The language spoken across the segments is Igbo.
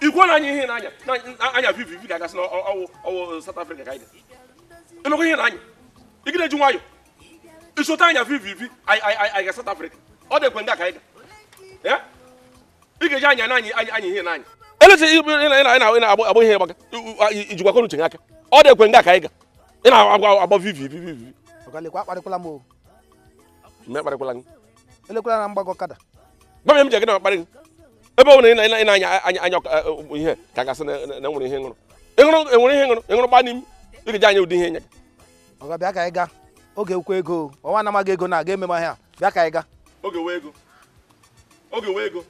ikwu na anya ihe na anya anya vivi vivi ga-agasị na ọwụ ọwụ South Africa ka anyị emekwa ihe na anya ị ga-eji nwayọ ịchọta anya vivi vivi anyị ga South Africa ọ dị ekwe ndị ka anyị ga ị ga-eji anya na anyị anya ihe na anya eleta na-agba ihe gbaga ijikwa kọnuche gị aka ọ dị ekwe ndị ka anyị ga ị na-agba vivi vivi vivi mgbe kparịkwala gị elekwala na mgbagọ kada gwa m ya m ji gị na kparị gị ebe ọ bụla ị na- ị na- ị na-anya anya anya ọka- eh, eh, ihe ka gasị na na- na enwere ihe ṅụrụ ịṅụrụ enwere ihe ṅụrụ ịṅụrụ gbaa n'imi ị ga-eji anya ụdị ihe nye gị ọga bịa ka anyị gaa oge kwuo ego o. ọ wụ na ị maghị ego na aga ememe ahịa bịa ka anyị gaa oge wụ ego oge wụ ego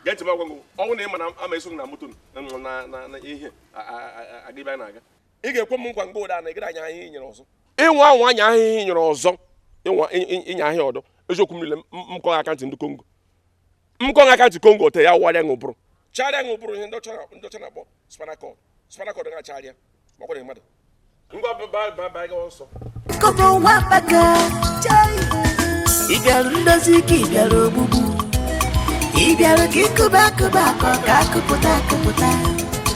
gee ntị m agwa gị ọ wụrụ na ị ma na ama eso gị na moto na na na na ihe a- a- a- aga ebe anyị na-aga ị ga-ekwe m nkwa mgbe ụda na ị gaghị anya ihe i nyere ọzọ ịnwa anwa anya ihe i nyere ọzọ ịnwa ị- ị- ịnya ihe a ọdọ eziokwu m niile m- m kọghị akantị ndị kongo m kọghị akantị kongo ote ya warịa gị ụbụrụ charịa gị ụbụrụ ihe ndị ọcha na- ndị ọcha na-akpọ spinal cord spinal cord ga-acharịa makwara mmadụ ngwa baba gawa nsọ Kobo nwa akpaka chai Ị bịara ndozi ka ị bịara ogbugbu Ị bịara ka ịkụba akụba akọ ka akụpụta akụpụta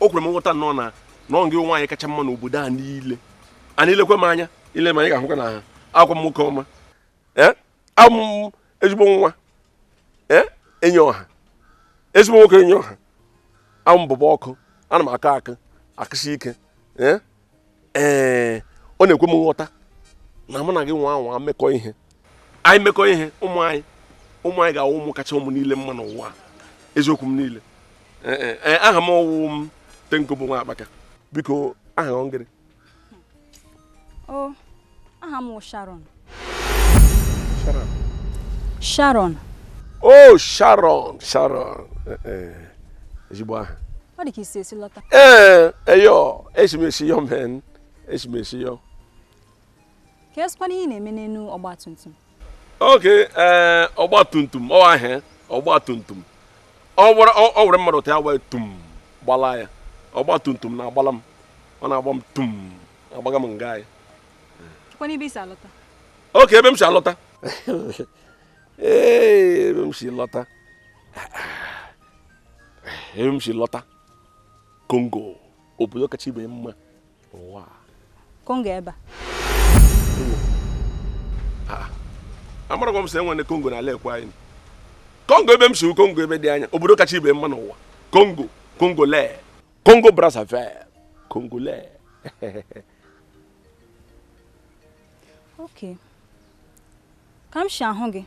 o kwere m nghọta nnọọ na ọ gị nwaanyị kacha mma n'obodo a niile and i lekwa m anya i le m anya ị ga-ahụkwa na awụkwa m nwoke ọma abụ m ezigbo nwa enyi ọha ezigbo nwoke enyi ọha abụ m bobo ọkụ ana m aka akụ akụsi ike ee ọ na-ekwe m nghọta na mụ na gị nwa anwa mekọ ihe anyị mekọ ihe ụmụ anyị ụmụ anyị ga-awụ ụmụ kacha ụmụ niile mma n'ụwa eziokwu m niile aha m awụ m Ten Kobo nwa akpaka biko aha ọ ngịrị aha m Sharon Sharon o oh, Sharon Sharon eh, eh. ezigbo aha ọ dị ka i si ezi lọta ee eh, eyo esimesi yo men esimesi yo ka esikwana ihe na-eme n'elu ọgba tum tum okay ee ọgba tum tum ọ ahịa ọgba tum tum ọ were mmadụ ta ya wee tum gbala ya ọgba tum tum na-agbala m ọ na-agba m tum agbaga m nga anyị kwanụ ebe i si alọta okay ebe m si alọta ee ebe m si lọta ebe m si lọta kongo obodo kacha ibe mma ụwa kongo ebe a ah, amarakwa m sị e nwere kongo n'ala ekwe anyị kongo ebe m si kongo ebe dị anya obodo kacha ibe mma n'ụwa kongo kongo lee Congo Brazzaville, Congolais. okay. Ka m shi ahụ gị,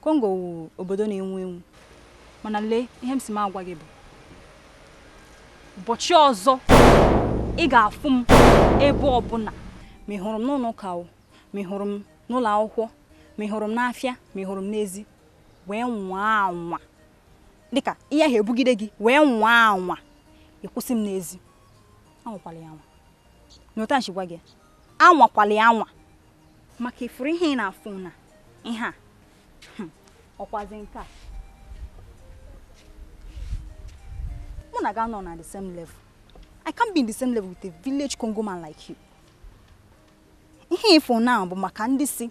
Congo wu obodo na-enwu enwu. Mana lee ihe m si m agwa gị bụ. Ụbọchị ọzọ ị ga-afụ m ebe ọbụla. Ma ị hụrụ m n'ụlọ ụka o, ma ị hụrụ m n'ụlọ akwụkwọ, ma ị hụrụ m n'afịa, ma ị hụrụ m n'ezi, wee nwaa anwa. dịka ihe ahụ ebugide gị wee nwaa anwa ịkwụsị m n'ezi anwakwala ya anwa n'otu a gwa gị anwakwala ya anwa maka ị fụrụ ihe ị na-afụ na ihe a hmm, ọkwazi nke a mụ na gị anọ na the same level I can't be in the same level with a village Congo man like you ihe ị fụ na bụ maka ndị si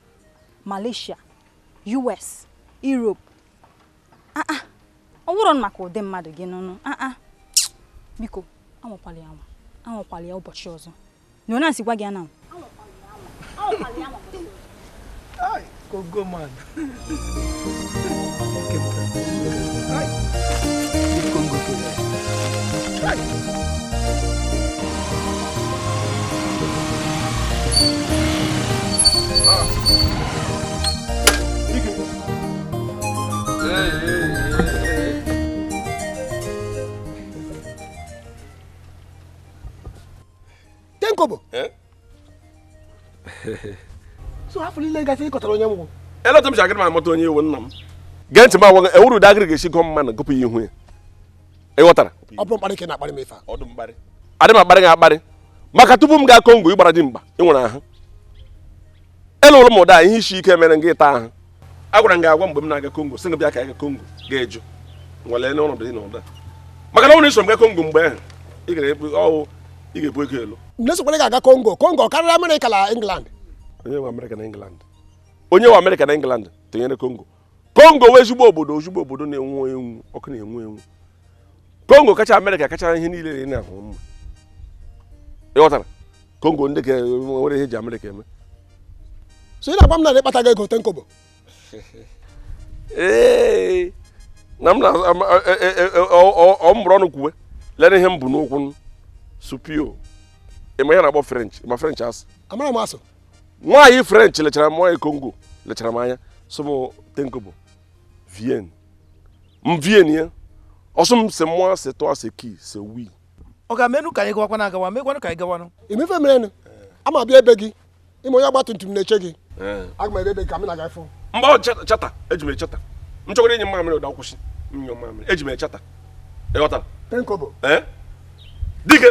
Malaysia US Europe aa ah, ah. ọ wụrụ maka ụdị mmadụ gị n'ụnụ aa ah, biko anwakwala ya anwa anwakwala ya ụbọchị ọzọ na onye asị gwa gị ananwụ Congo man. Ten Kobo eh? so afọ niile gasị ịkọtara onye nwụ eleta m si agara m amata onye ị wụ nna m gee ntị m agwa gị ọ wụrụ ụdị agụrụ ga-esi gụọ mmadụ gụpụ ya ihu ya ị ghọtara ọ bụ mkparị ka ị na-akparị m ife adị m akparị gị akparị maka tupu m gaa kongo ị gbara dimkpa ị nwere ahụ Eluola m ụda ihe isi ike mere m gị ịta ahụ. Agwara m gị agwa mgbe m na-aga Kongo sị gị bịa ka anyị ga Kongo gị ajụ nwale n'ọnọdụ dị n'ụda maka na ọ bụrụ i so m ga Kongo mgbe ahụ ị gara ebu ọwụ ị ga-ebu ego elu M na-asịkwala gị aga Kongo Kongo karịrị Amerịka na England onye nwe Amerịka na England onye nwe Amerịka na England tinyere Kongo kongo wụ ezigbo obodo ezigbo obodo na-enwu enwu ọkụ na-enwu enwu kongo kacha amerịka kacha ihe niile dị na-ahụ mma ị ghọtara kongo ndị ka nwere ihe e ji amerịka eme so ị na-agwa m na ị kpataghị ego Ten Kobo ee na m na-eburu ọnụ kwuwe lere ihe m bụ n'ụkwụ supio ị ma ihe a na-akpọ french ma french asụ amara m asụ nwaanyị french lechara m nwaanyị kongo lechara m anya sị m tenkobo viens viens ya ọ sụọ m c'est moi c'est toi c'est qui c'est oui ọ ga-emenụ ka anyị gawakwa na agawa mekwanụ ka anyị gawanụ imefe merenụ ama abịa ebe gị ime onye ọgba tum tum na-eche gị aga m ebe ebe gị ka m na-aga fụ mgbe ọ cheta- cheta eji m echeta m chọkwara ịnyụ mmamịrị ụda kwụsị m nyụọ mmamịrị eji m echeta ịghọtara tenkobo ee dike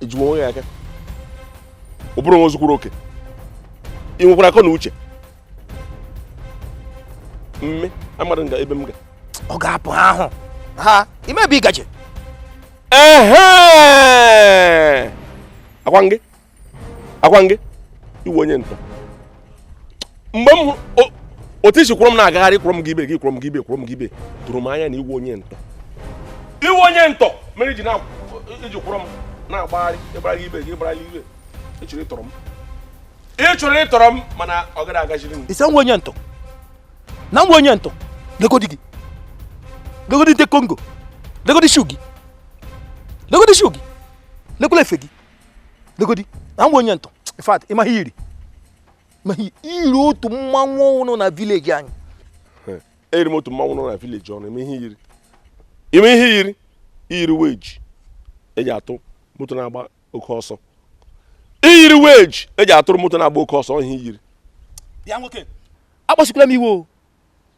ejiwe onwe ya aka ụbụrụ nwa o zukwuru oke ị nwekwara akọ na uche mme amadụ nga ebe m ga ọ ga-apụ ha ahụ ha ịma ebe ị gaje ehe akwa ngị akwa ngị ị wụ onye ntọ mgbe m otu i si kwọrọ m na-agagharị kwọrọ m ga ibe gị kwọrọ m ga ibe kwọrọ m ga ibe tụrụ m anya na ị wụ onye ntọ ị wụ onye ntọ mere iji kwọrọ m na-agbagharị ịgbara ga ibe gị ịgbara ga ibe ịchọrọ ịtọrọ m ịchọrọ ịtọrọ m mana ọ gaghị agaziri gị ị sị na m wụ onye ntọ na m wụ onye ntọ legodi gị legodi nte kongo legodi shoe gị legodi shoe gị lekwula efe gị legodi na m wụ onye ntọ in fact ịma ihe iyiri ma ihe iyiri otu mmanwụ nọ na village anyị eyiri m otu mmanwụ nọ na village ụnụ ịma ihe iyiri ịma ihe iyiri iyiri wedge eji atụ moto na-agba oke ọsọ iyiri wedge eji atụrụ moto na-agba oke ọsọ ihe iyiri bịa nwoke akpasukwala m iwe o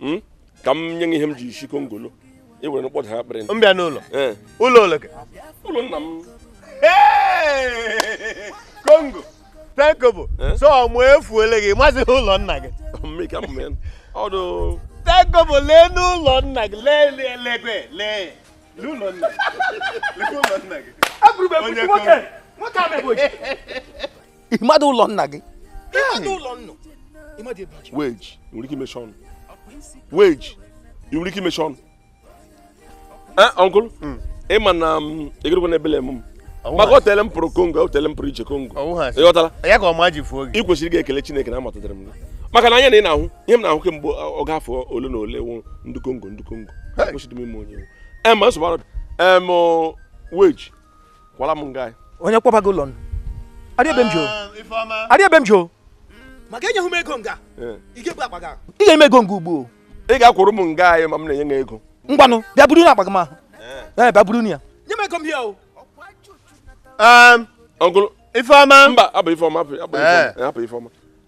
hmm? ka m nye gị ihe m ji isi kongo lọ ị were mkpọda ha kpọrọ m bịa n'ụlọ eh. ụlọ ole ụlọ nna m kongo tenkobo eh? so ọmụ efuole gị amazighị ụlọ nna gị ọdọ tenkobo lee n'ụlọ nna gị lee lee lekwe lee n'ụlọ nna gị onye kongo ịmadụ ụlọ nna gị ịmadụ ụlọ nna ịmadụ ebe ọchị wedge ị nwere ike imechi ọnụ wedge ị nwere ike imechi ọnụ ee eh, uncle hmm. ịma na mm, egerekwa na ebele m maka o tele m pụrụ kongo o tele m pụrụ ije kongo ịghọtala ya ka ọma ji fuo gị ị kwesịrị ị ga-ekele chineke na amatụtara m gị maka na anya na ị na-ahụ ihe m na-ahụ kemgbe ọ ga afọ ole na ole wụ ndị kongo ndị kongo kwesịrị m ime onye ewu ema nsogbu wedge kwala m nga onye kpọba gị ụlọ ụnụ arịa ebe m jụrụ arịa ebe m jụrụ maka enyeghị m ego nga Eh. ị ga-ebu akpa gị ahụ. ị ga-eme ego nga ugbu a ị ga-akwụrụ m nga anyị ma m na-enye gị ego ngwanụ bịa buru na akpa gị m ahụ ee bịa buru na ya nye m ego m here o uncle ifeọma mba hapụ ifeọma hapụ hapụ Eh. ifeọma hapụ ifeọma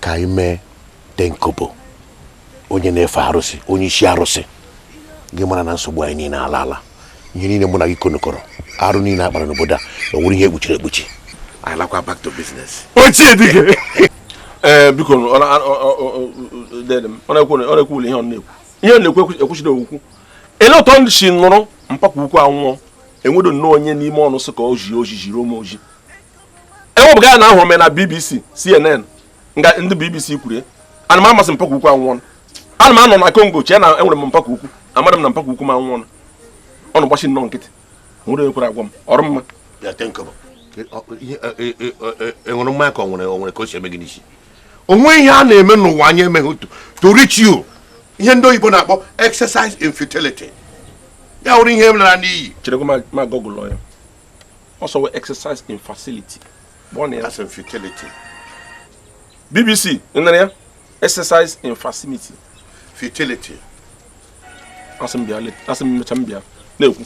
ka anyị mee tenkobo onye na-efe arụsị onye isi arụsị ga-amara na nsogbu anyị niile alaala ihe niile mụ na gị konokọrọ arụ niile a kpara n'obodo a ọ wụrụ ihe e kpuchiri ekpuchi anyị lakwa back to business ochie dike ee biko ọ na- ọ- ọ- ọ- ọ- dede m, ọ na-ekwu ọ na-ekwu ụlọ ihe ọ na-ekwu ihe ọ na-ekwu ekwu- ekwuchiri okwu ele otu ndị si nụrụ mpa ke ukwu anwụọ enwedo nnọọ onye n'ime ọnụ sị ka o ziri ozi ziri m ozi ewepụga ya na ahụrụ m ya na bbc cnn nga ndị bbc kwuru ana m ama sị mpa ke ukwu anwụọna ana m anọ na congo chee na enwere m mpa ke ukwu amaghị m na mpa ke ukwu m anwụọna ọnụ gbachi nnọọ nkịtị nwere onye kwere agwa m ọrụ mma enwere mmanya ka o nwere o nwere ka o si eme gị n'isi o nweghị ihe a na-eme n'ụwa anyị emeghị otu to reach you ihe ndị oyibo na-akpọ exercise in futility ya wụrụ ihe m lara n'iyi chere ka m google ya ọ sị ọ wụ exercise in facility kpọọ na ya as in futility bbc nara ya exercise in facility futility asị m bịa le- asị m mecha m bịa na-ekwu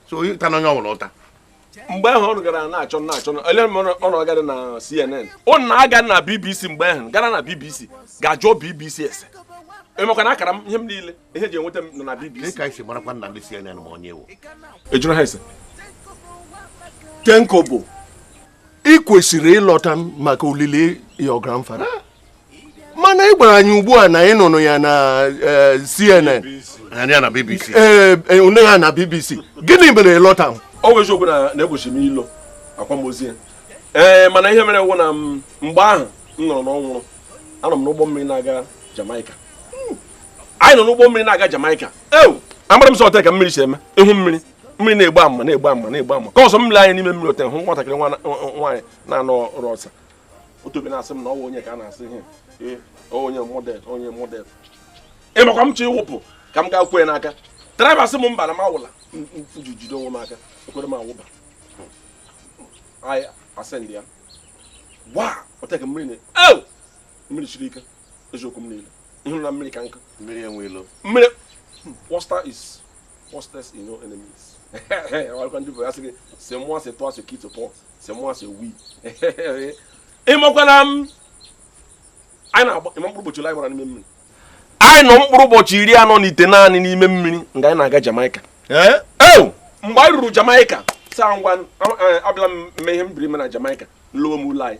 so onye atana onye ọbụla ụta mgbe ahụ ọ gara na-achọ na-achọ na- ele m ọ nọ- ọ nọ gara na cnn ọ na-aga na bbc mgbe ahụ gara na bbc gaa jụọ bbc ese emekwa na akara m ihe m niile ihe ji enweta m nọ na bbc dịka ị si marakwa na ndị cnn ma onye m wụ a jụrụ ha ese tenkobo ị kwesịrị ịlọta maka olili your grandfather mana ị gwara anyị ugbu a na ị nụrụ ya na eh, cnn ya na bbc ee eh, onye eh, ha na bbc gịnị mere ị lọtaghị ọ bụ eziokwu na na-egbochi m ịlọ akwamozu ya ee mana ihe mere wụ na mgbe ahụ m nụrụ na ọ nwụrụ anọ m n'ụgbọ mmiri na-aga Jamaica anyị nọ n'ụgbọ mmiri na-aga Jamaica ewu amara m sọ ọtọ ka mmiri si eme ị hụ mmiri mmiri na-egbu ama na-egbu ama na-egbu ama ka ọsọ mmiri anyị n'ime mmiri ote hụ nwatakịrị nwaanyị na-anọ ọrụ ọsa otobe na-asị m na ọwa onye ka a na-asị ihe onye model onye model ị makwa m chọ ịwụpụ ka m gaa kwe ya n'aka driver sị m mba na m awụla jide onwe m aka ekweghị m awụba anyị asendị ya gbaa ọtọ ka mmiri na-ewu mmiri siri ike eziokwu m niile ị hụrụ na mmiri ka nkụ mmiri enwe ilo mmiri wọsta hmm, is wọstes no enemies ọkwa ndị bụ ya sị gị c'est moi c'est toi ce qui te porte c'est moi c'est oui ị makwa na m um, anyị na-agba ị ma mkpụrụ ụbọchị anyị gbara n'ime mmiri anyị nọ mkpụrụ ụbọchị iri anọ na itenaanị n'ime mmiri nga anyị na-aga Jamaica eh? mgbe anyị ruru Jamaica saa ngwa abịala m mee ihe m bịara ime na Jamaica m lọwa ụlọ anyị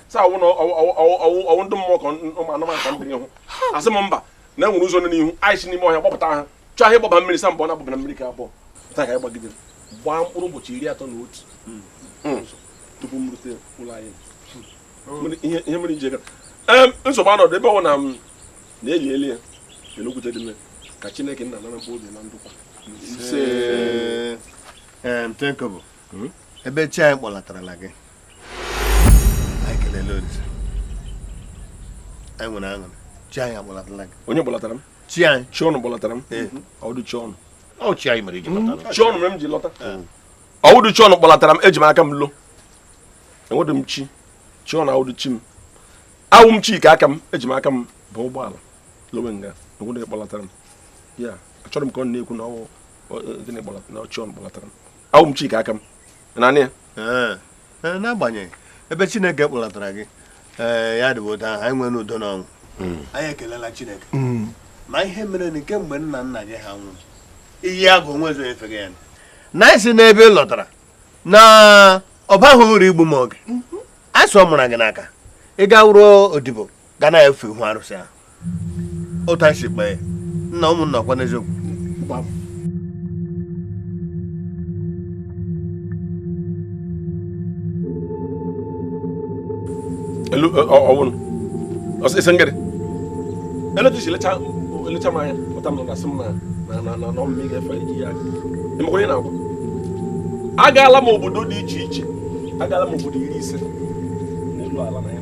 sị awụ na ọwụ ndị mmụọ ka ụmụ anụmanụ ka ndị n'ihu asị m mba na enwere ụzọ n'ihu anyị si n'ime ọhịa gbapụta ha chọọ ahịa ịgbaba mmiri sa mbọ na agbabara mmiri ka abụọ taa ka anyị gbagidere gbaa mkpụrụ ụbọchị iri atọ na otu hmm. Hmm. tupu m rute ụlọ anyị hmm. ihe mere iji nsogbu anọdụ ebe ọ na m na-eli eli ya elokwute dị mme ka chineke nna nara mkpụrụ obi na ndụkwa hmm? ebe chi anyị kpọlatarala gị anyị kelele olise anyị nwere aṅụrị chi anyị akpọlatala gị onye kpọlatara m chi anyị chi unu kpọlatara m ọwụdụ chi unu ọ chi anyị mere iji lọta hmm? chi unu mere m ji lọta ọwụdụ chi unu kpọlatara m eji m aka m lo enwedị m chi chi unu awụdụ chi m awụ m chi nke aka m eji m aka m bu ụgbọala lowe nga enwedị kpọlatara m ya achọrọ m ka ọ na-ekwu na ọwụ gịnị kpọlatara na chi unu kpọlatara m awụ m chi nke aka m naanị ya Ee, ee, n'agbanyeghị ebe chineke kpọlatara gị ee ya dịbụ otu ahụ anyị nwere udo na ọṅụ anyị ekelela chineke ma ihe mere na kemgbe nna nna gị ha nwụrụ Iyiagụ onwezi onye fega ya na anyị sị na ebe ị lọtara na ọ baghị uru igbu m oge a sị ọ mụrụ gị n'aka ị ga wụrụ odibo ga na-efe ihu arụsị ahụ otu anyị si kpee nna ụmụnna ọkwa n'eziokwu elu ọwụrụ ọsịsị ngịrị elu tusi lecha elecha m anya pụta m na asị m na na na na ọ mụ ga-efe Iyiagụ ị makwa onye ị na-agwa agaala m obodo dị iche iche agaala m obodo iri ise n'elu ala na ya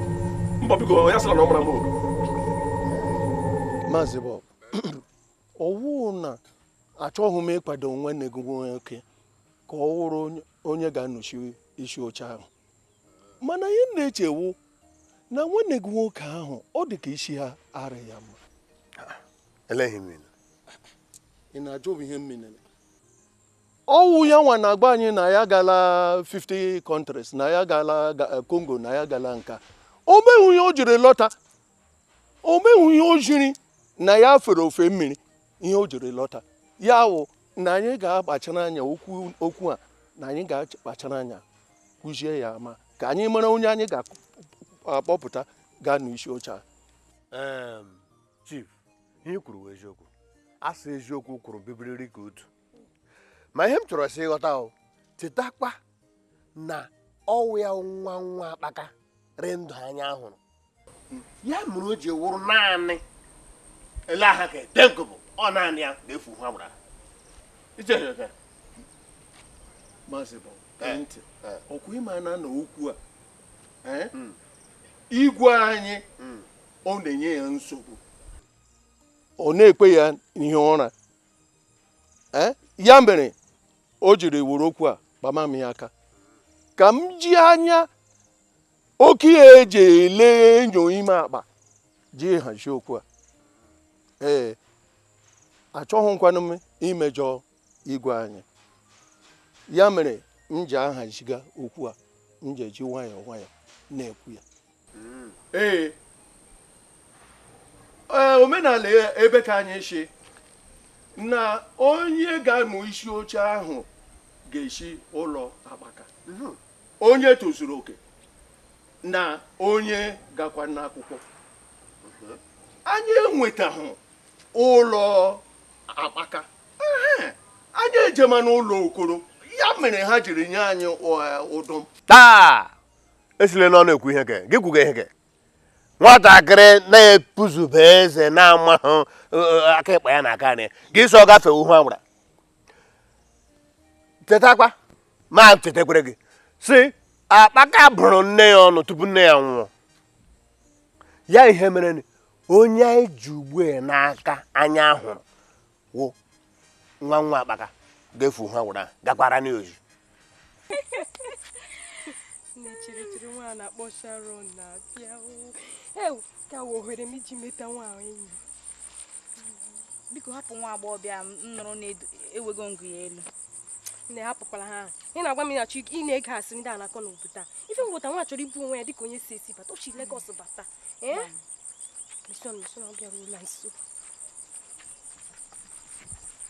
mbọ biko ya sịra na ọ mara m maazị Bob ọwụ na achọghị m ịkwado nwanne gị nwoke ka ọ wụrụ onye ga-anọchi isi oche ahụ mana ihe na-eche wụ na nwanne gị nwoke ahụ ọ dị ka isi ha ara ya mma ị na-ajụ m ihe m ọwụ ya nwa na-agwa anyị na ya gala 50 countries na ya gala Congo na ya gala nka o nweghị ihe o jiri lọta o nweghị ihe o jiri na ya fere ofe mmiri ihe o jiri lọta ya wụ na anyị ga-akpachara anya okwu a na anyị ga-akpachara anya kụzie ya ama ka anyị mara onye anyị ga-akpọpụta gaa n'isi oche a chief ihe i kwuru eziokwu asị eziokwu kwuru bibiriri ka otu ma ihe m chọrọ sị ị ghọta o chetakwa na ọ wụ ya nwa nwa akpaka rị ndụ anya hụrụ ya mere o ji wụrụ naanị ele aha ka edenko bụ ọ naanị ya ga-efu ha gbara maazị bụ eh, ntị eh. ọ kwa ị ma na na okwu a eh? hmm. igwe anyị hmm. ọ na-enye ya nsogbu ọ na-ekwe ya hie ụra ya mere o jiri wụrụ okwu a kpama m ya aka ka m ji anya okenye e ji ele enyo ime akpa ji hazie okwu a ee achọghịkwanụ m imejọ igwe anyị ya mere m ji ahaziga okwu a m ji eji nwayọọ nwayọọ na-ekwu ya hmm. ee omenala ebe ka anyị sị na onye ga-anọ isi oche ahụ ga-esi ụlọ akpaka hmm. onye tozuru oke na onye gakwa n'akwụkwọ hmm. anyị enwetahụ ụlọ akpaka anyị ejema n'ụlọ okoro ya mere ha jiri nye anyị ụdụm taa esile n'ọnụ ekwu ihe ke gị kwuga ihe ke nwatakịrị na-epuzube eze na-amahụ e, e, aka ịkpa ya na aka nri gị so gafee uhu agbara chetakwa ma chetekwere gị sị akpaka bụrụ nne ya ọnụ tupu nne ya nwụọ ya ihe mere onye anyị ji ugbu a n'aka anya hụrụ wụ nwa nwa akpaka ga-efu ha wụra gakwara n'ozi nne chirikiri nwa na-akpọ Sharon na-abịa ewu ka wụ ohere m iji meta nwa enyi biko hapụ nwa agbọghọbịa m nụrụ na-ewego ngụ ya elu na hapụkwala ha ị na-agwa m ịnachi ị na-ege asịrị ndị a na-akọ n'obodo a ife ngwụta nwa chọrọ ibu onwe ya dịka onye si esi bata o si Legọs bata ee mission mission ọ bịara ụlọ nsọ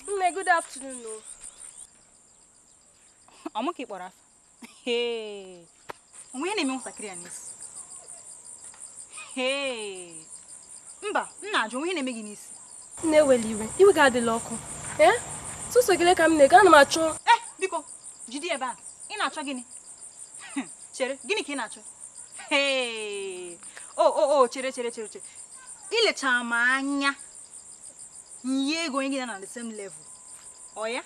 Nne, good afternoon. No. Ọ mụ ka ị kpọrọ afa. O nwe ihe na-eme nwatakịrị a n'isi. Mba, m na-ajụ o nwe ihe na-eme gị n'isi. Nne ewela iwe, iwe gị adịla ọkụ. Ee, eh? tụso gịle ka m na-ego, ana m achọ. Eh, biko, jide ebe a. Ị na-achọ gịnị? Chere, gịnị ka ị na-achọ? o o o chere chere chere chere i lechara m anya m yie gị onye gị na ya nọ the same level oya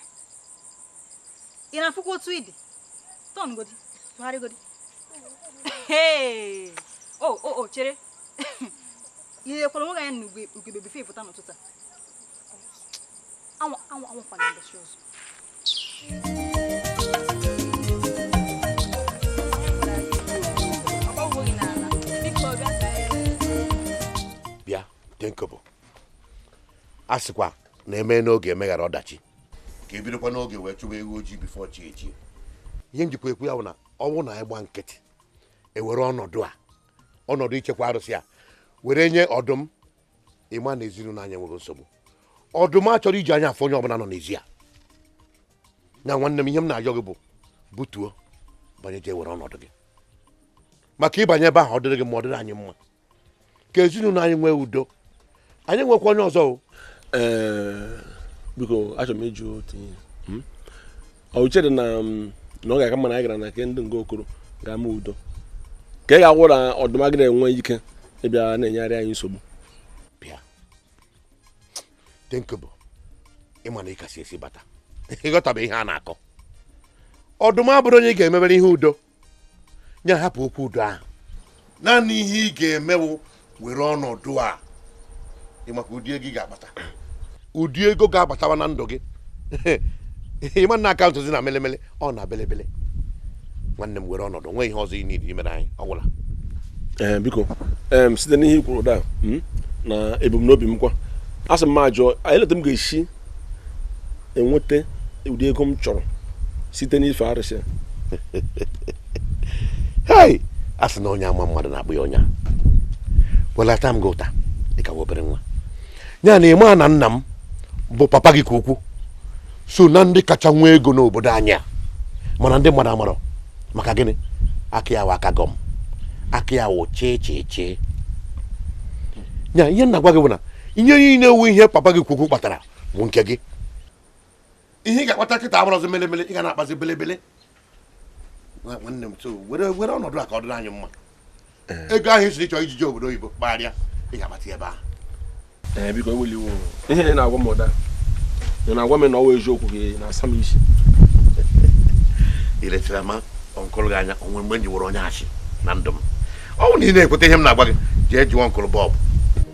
ị na-afụkwa otu ị dị turn godi tụgharị godi o o o chere i lekwara onwe gị anya na ugegbe before ị pụta n'ụtụtụ a bịa tenkobo a sịkwa na eme n'oge emeghara ọdachi ka ebidokwa n'oge wee chụwa ewu ojii before chi ejie ihe m jikwa ekwu ya bụ na ọ bụrụ na anyị gba nkịtị ewere ọnọdụ a ọnọdụ ichekwa arụsị a were nye ọdụm ị ma na ezinụlọ anyị enwego nsogbu ọdụm achọrọ iji anya afụ onye ọbụla nọ n'ezi a na nwanne m ihe m na-ayọ gị bụ butuo banye jee were ọnọdụ gị maka ị banye ebe ahụ ọ dịrị gị mma ọ dịrị anyị mma ka ezinụlọ anyị nwee udo anyị enwekwa onye ọzọ o Ee, biko achọrọ m ịjụ otu ihe echere m na, na ọ ga-aka mma na anyị gara na nke ndị nga okoro gaa mee udo ka ọ ga-awụ na ọdụm agaghị enwe ike ịbịa na-enyegharị anyị nsogbu bịa tenkobo ịma na ị ka si ezi bata ị ghọtabe ihe a na-akọ ọdụm abụrọ onye ị ga-emebere ihe udo nye hapụ okwu udo ahụ naanị ihe ị ga-emewu were ọnọdụ a ịmakwa ụdị ego ị ga-akpata ụdị ego ga-abatawa na ndụ gị ịma na akaụntụzi na melemele ọ na belebele nwanne m were ọnọdụ nwee ihe ọzọ i nwere imere anyị ọ gwụla eh, biko site n'ihe i kwuru da hmm, na ebumnobi m kwa a sị m ma jụọ elee otu m ga-esi enweta ụdị ego m chọrọ site n'ife arụsị hei a sị na onye ama mmadụ na-akpọ ya onye a well ata m gị ụta ị ka wụ obere nwa ya na ịma na nna m bụ papa gị ka ukwu so na ndị kacha nwee ego n'obodo anyị a mana ndị mmadụ amarọ maka gịnị aka ya wụ aka gọm aka ya wụ chee chee chee ya ihe m na-agwa gị bụ na ihe niile wụ ihe papa gị ka ukwu kpatara bụ nke gị ihe ị ga-akpata kịta abụrọzi melemele ị ga na-akpazi belebele nwanne m so were were ọnọdụ a ka ọ dịrị anyị mma eh. ego ahụ ị sịrị chọọ iji jee obodo oyibo kpagharịa ị ga-akpata ebe ahụ eh, biko ewela iwe o ihe ị na-agwa m ụda ị na-agwa m na ọ wụ eziokwu ka ị na-asa m isi i lechara mụ ọnkụlụ gị anya o nwe mgbe m ji wụrụ onye asị na ndụ m ọ bụ na ị na-ekweta ihe m na-agwa gị jee jụọ ọnkụlụ bọọbụ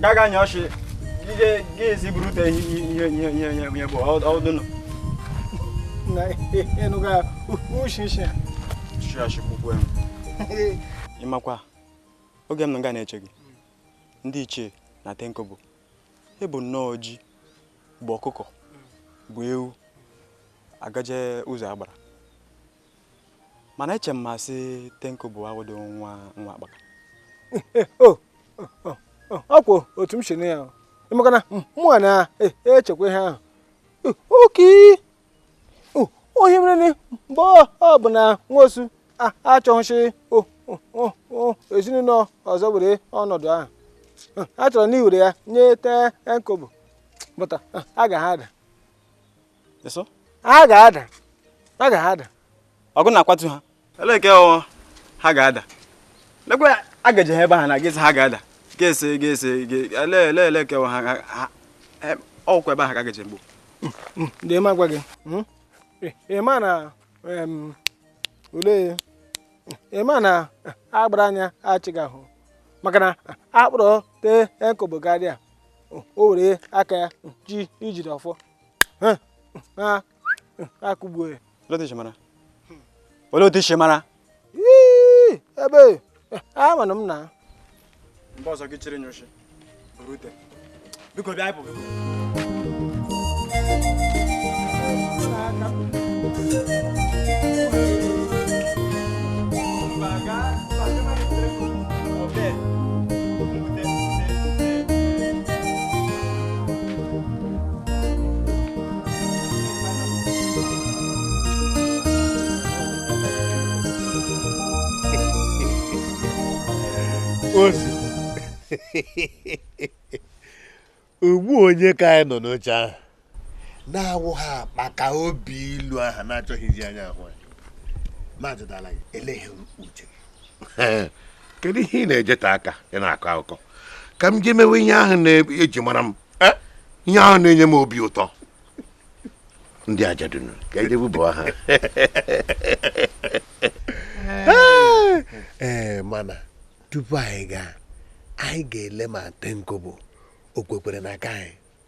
gaga nye ọchị ga-esi burute ihe bụ ọdụnụ ịnụga uchichi chiachikwukwe m ịmakwa oge m nọ nga na-eche gị ndị ichie na tenkobo i bu nnọọ ji bu ọkụkọ bu ewu agaje ụzọ agbara mana eche m ma sị Ten Kobo awụdị nwa akpaka ọ kwa otu m si nụ ya maka na mụnwa na-echekwa ihe ahụ oke onye mere na mgbe ọ bụ na nwosu achọghị sị ezinụlọ ọzọ were ọnọdụ ahụ a chọrọ na iwere ya nye Ten Kobo bụta a ga ha ada ha ga-ada ha ga-ada ọgụ na-akwatu ha eleke ọnwa ha ga-ada lekwe agaje ha ebe ha na gịsị ha ga-ada ga-ese ga-ese ele ele ele ke ha ọkwa ebe ha ka agaje mgbo hmm, hmm, ndị ma gwa gị hmm? eh, ị ma na olee ị ma na agbara anya achịghị ahụ maka na a kpọrọ Ten Kobo karịa o were aka ya ji ijide ọfọ akụgbuo ya olee otu i si mara ebe a mana m na mgbe ọzọ gị chịrị nyochi rute biko bịa ịpụ ozu ugbu onye ka anyị nọ n'oche ahụ na-awụ ha akpaka obi ilu aha na-achọghịzi anya ahụ anyị na-ajụdala gị eleghị uche kedu ihe ị na-ejeta aka ị na-akọ akụkọ ka m jee mewe ihe ahụ na-eji mara m eh? ihe ahụ na-enye m obi ụtọ ndị ajadunu ka anyị bụ aha ee eh, mana tupu anyị gaa anyị ga-ele ma Ten Kobo o kwekwere na aka anyị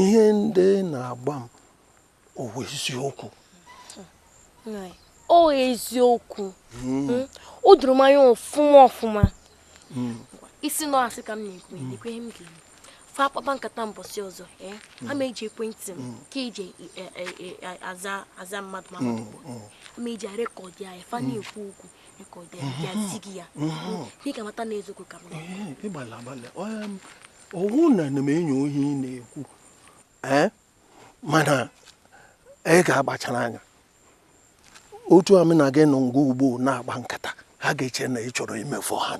ihe ndị na-agwa m ọ wụ eziokwu o eziokwu hmm. Hmm? o doro m anya ọfụma ọfụma hmm. ị sị na ọ asị ka m na-ekwu ihe m ga-eme fa kpaba nkata mbọsị ọzọ eh? a ma eji ekwentị m ka eji e, e, e, aza mmadụ ma mmadụ a ma eji rekọdị ya fa na-ekwu okwu rekọdị ya ya zi gị ya ka ị mata na eziokwu ka m ọ wụ na ana m enyo ihe ị na-ekwu ee mana ị ga-akpachara anya otu a m na gị nọ nga ugbu a na-akpa nkata ha ga-eche na ị chọrọ imefu ha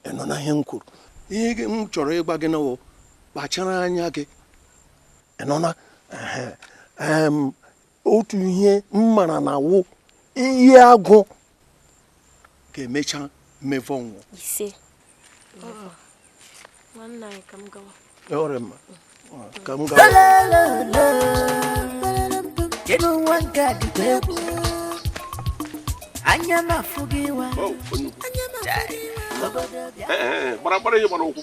ị nụna ihe m kwuru ihe gị- m chọrọ ịgwa gị na wụ kpachara anya gị ị nụna ehe, em, otu ihe m mara na wụ Iyiagụ ga-emecha mevọọ nwụọ ise nwanne anyị ka m gawa ọ dị mma ka m gawa Kedu nwa nke a dịkwa egwu anya m afụ gị wa gbara gbara ihe gbara ụkwụ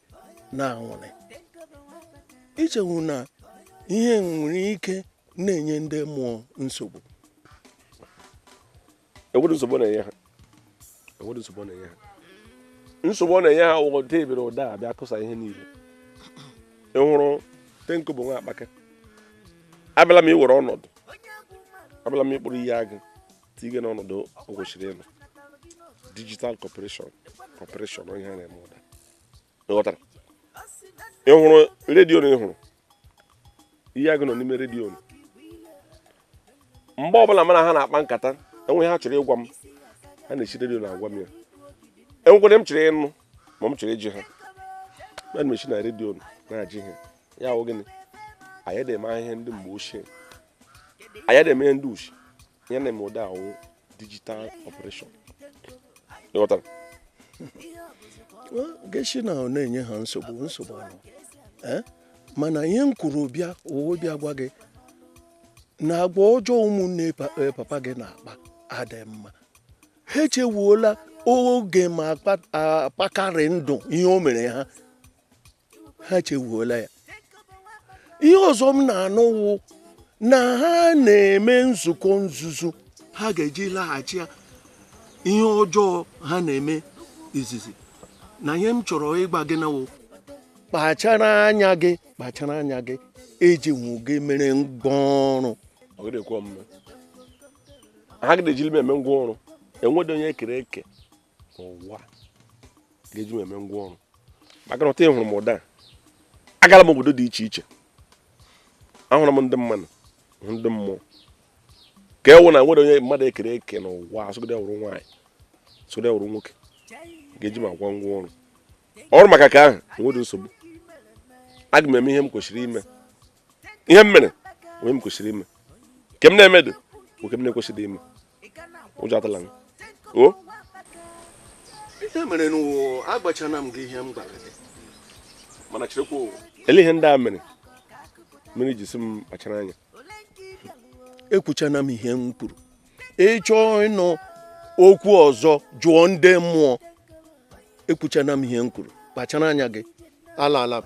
na anwụrị i chewu na ihe nwere ike na-enye ndị mmụọ nsogbu enweghị nsogbu na-enye ha enweghị nsogbu na-enye ha nsogbu ọ na-enye ha wụ ụda ebere ụda a bịa kụsa ihe niile ị hụrụ Tenkobo nwa akpaka abịala m iwere ọnọdụ abịala m ịkpụrụ Iyiagụ tige n'ọnọdụ o kwesịrị ịnọ digital operation ihe a na-eme ụda ịghọtara ị hụrụ redio na ị hụrụ Iyiagụ nọ n'ime redio na mgbe ọbụla mụ na ha na-akpa nkata enwee ihe ha chọrọ ịgwa m ha na-esi redio na-agwa m ya enwekwaa ihe m chọrọ ịnụ ma m chọrọ ịjị ha ana m esi na redio na-ajị ihe ya wụ gịnị anyị anaghị eme ihe ndị mgbe ochie anyị anaghị eme ihe ndị ochie ihe na-eme ụda a wụ digital operation ịghọtara geshi na ọ na-enye ha nsogbu nsogbu ahụ eh? mana ihe m kwuru bịa owo bịa gwa gị na agwa ọjọọ ụmụnne eh, papa gị na-akpa adị mma ha echewuola oge ma akpakarị ndụ ihe o mere ha ha chewuola ya ihe ọzọ m na-anụ wụ na ha na-eme nzukọ nzuzo ha ga-eji laghachi ya ihe ọjọọ ha na-eme izizi na ihe m chọrọ ịgwa gị na wụ kpachara anya gị kpachara anya gị eji nwụ gị mere ngwa ọrụ ha agaghị ejili m eme ngwa ọrụ enweghị onye ekere eke n'ụwa ga-eji m eme ngwa ọrụ maka na otu a ị hụrụ m ụda agaala m obodo dị iche iche ahụrụ m ndị mmadụ hụ ndị mmụọ ka ọ wụ na enweghị onye mmadụ ekere eke n'ụwa asụgide wụrụ nwaanyị sụgide wụrụ nwoke ga-eji m agwa ngwa ọrụ ọrụ maka nke ahụ enweghị nsogbu aga m eme ihe m kwesịrị ime ihe m mere onye m kwesịrị ime nke m na-emeghị nke m na-ekwesịrị ime ụjọ atụla m o ihe mere n'ụwa agwachana m gị ihe m gwara gị mana cherekwa ụwa ele ihe ndị a mere mere e ji sị m kpachara anya ekwuchana m ihe m kwuru ị chọọ ịnụ okwu ọzọ jụọ ndị mmụọ ekwuchana m ihe m kwuru kpachara anya gị alaala m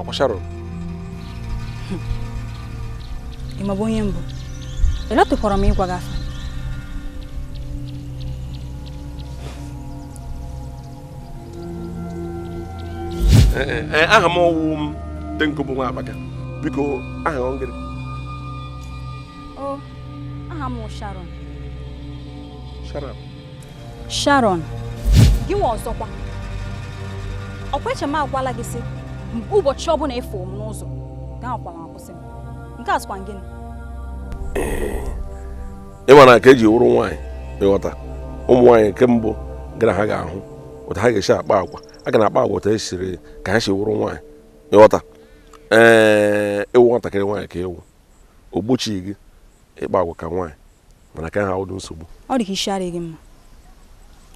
ọkwa Sharon ị ma bụ onye m bụ elọtụkwara m ịgwa gị afa eh, eh, eh, aha m ọ wụ m Ten Kobo nwa abaga biko aha ọ ngịrị o aha m Sharon Sharon Sharon gị nwa ọzọkwa ọkwa eche m agwala gị sị ụbọchị ọbụla ị fụ m n'ụzọ gị anakwala akwụsị m nke a sịkwa gịnị ị ma na ka eji wụrụ nwaanyị ịghọta ụmụ nwaanyị nke mbụ gara ha ga-ahụ otu ha ga-esi akpa agwa ha ga na-akpa agwa otu e siri ka ha si wụrụ nwaanyị ịghọta ee ị wụ nwatakịrị nwaanyị ka ị wụ o gbochighị gị ịkpa agwa ka nwaanyị mana nke ahụ awụdụ nsogbu ọ dị ka isi adịghị mma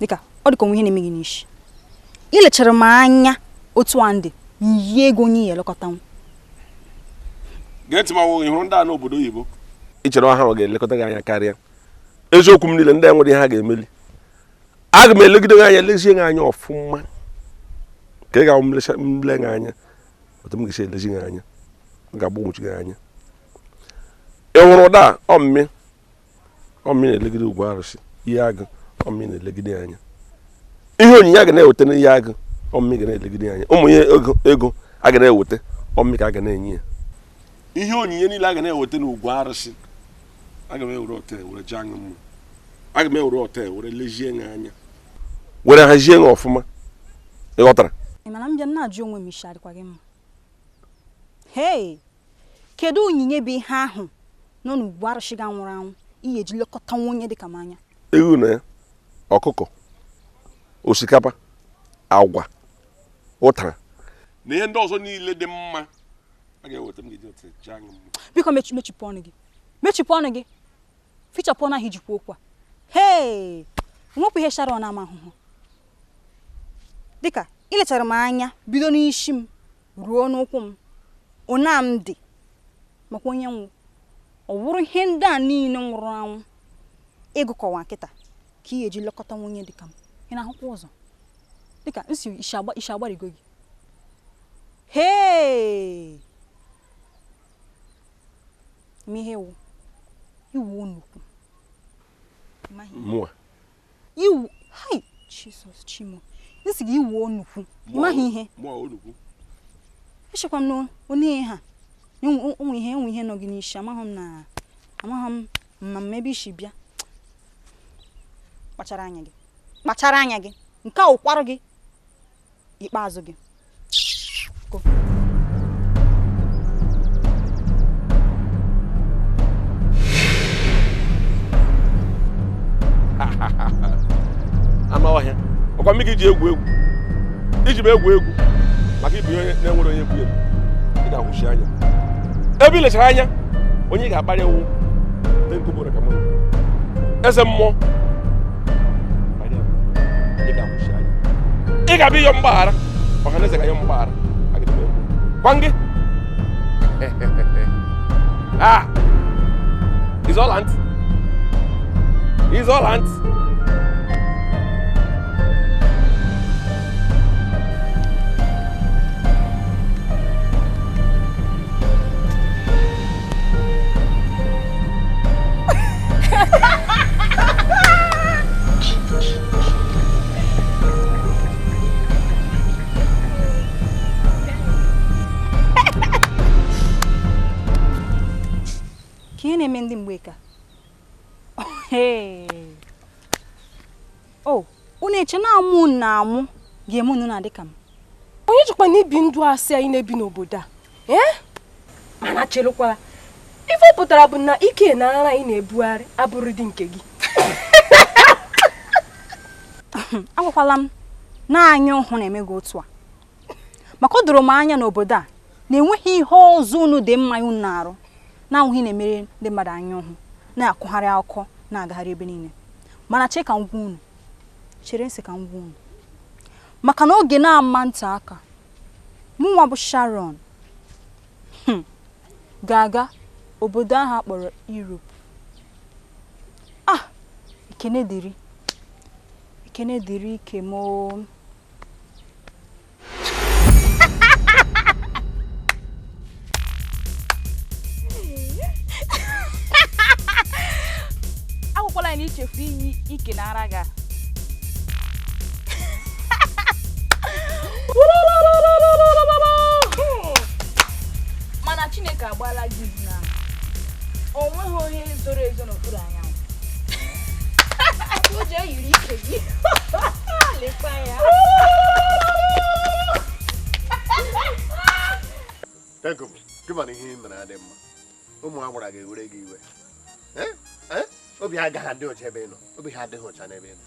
dịka ọ dị ka onwe ihe na-eme gị n'isi ị lechara m anya otu a ndị yie ego onye ya elekọta m gee ntị ma nwoke ị hụrụ ndị a n'obodo oyibo ị chere ọ ha ga-elekọta gị anya karịa eziokwu m niile ndị a nwere ihe ha ga-emeli aga m elegide gị anya lezie gị anya ọfụma ka ị ga-ahụ m lee gị anya otu m ga-esi elezi gị anya ga-agbagwoju gị anya ị hụrụ ụda a ọmmị ọmmị na-elegide ugwu arụsị Iyiagụ ọmmị na-elegide ya anya ihe onyinye a ga na-eweta n'Iyiagụ ọmmị ga na-elegide ya anya ụmụ ihe ego ego a ga na-eweta ọmmị ka a ga na-enye ya ihe onyinye niile a ga na-eweta n'ugwu arụsị aga m ewere ọta were chọọ ngị mma aga m ewere ọta were lezie ya anya were hazie ya ọfụma ị ghọtara ị ma na m bịa na-ajụ onwe m isi ọ dịkwa gị mma hei Kedu onyinye bụ ihe ahụ nọ n'ugwu arụsị gị nwụrụ anwụ ị ya-eji lekọta nwunye dịka m anya? Ewu na ọkụkọ, osikapa, agwa, ụtara na ihe ndị ọzọ niile dị mma a ga-eweta m ga-eji weta chọọ gị mma. Biko mechi mechipụ ọnụ gị mechipụ ọnụ gị fichapụ ọnụ ahụ i ji ekwu okwu a hee nwepụ ihe Sharon na-ama ahụhụ dịka ị lechara m anya bido n'isi m ruo n'ụkwụ m ona m dị makwa onye m wụ ọ wụrụ ihe ndị a niile nwụrụ anwụ ị gụkọwa kịta ka ị ga-eji lekọta nwunye dịka m ị na-ahụkwa ụzọ dịka m sị isi agbarigo gị hee ị ma ihe ị wụ ị wụ onukwu mụa iwu hai jizọs chimo m sị gị ị wụ onukwu ị maghị ihe mụa onukwu echekwa m na onwe ihe ha enwe enwe ihe enwe ihe nọ gị n'isi amaghị m na amaghị m ma m ebe i si bịa kpachara anya gị kpachara anya gị nke a ụkwarụ gị ikpeazụ gị anụ ọhịa ọ kwa mụ ka i ji egwu egwu i ji m egwu egwu maka ịbụ onye na-enwere onye bụ ị ga-ahụsi anya ebe ị lechara anya onye ị ga-akparị ewu eze mmụọ ị ga-abịa ịyọ mgbaghara ọha na eze ga-ayọ mgbaghara gwa gị ah is alright is alright ke ihe na-eme ndị mgbeke a unu eche na amụ na amụ ga-eme unu na-adị ka m onye jikwa na ibi ndụ asị anyị na-ebi n'obodo a ee mana cherekwala ife ọ pụtara bụ na ike na ara ị na-ebugharị abụrọdị nke gị agwakwala m na anya ụhụ na-eme gị otu a maka o doro m anya n'obodo a na-enweghị ihe ọzọ unu dị mma unu na-arụ na-abụghị na-emere ndị mmadụ anya ụhụ na-akụgharị akụkọ na-agagharị ebe niile mana chee ka m gwa unu chere ntị ka m gwa unu maka na oge na-ama nte aka mụnwa bụ Sharon hmm, ga-aga obodo ahụ a kpọrọ Europe ah ekene dịrị ekene dịrị ike m agwakwala anyị na i chefu iyi ike na ara gị mana chineke agbaala gị na o nweghị ihe zoro ezo n'okpuru anyanwụ o ji eyiri ike gị lekwa ya gị mana ihe ị mere adị mma ụmụ agbara ga-ewere gị iwe obi ha agaghị adị ọcha ebe ị nọ obi ha adịghị ọcha n'ebe ị nọ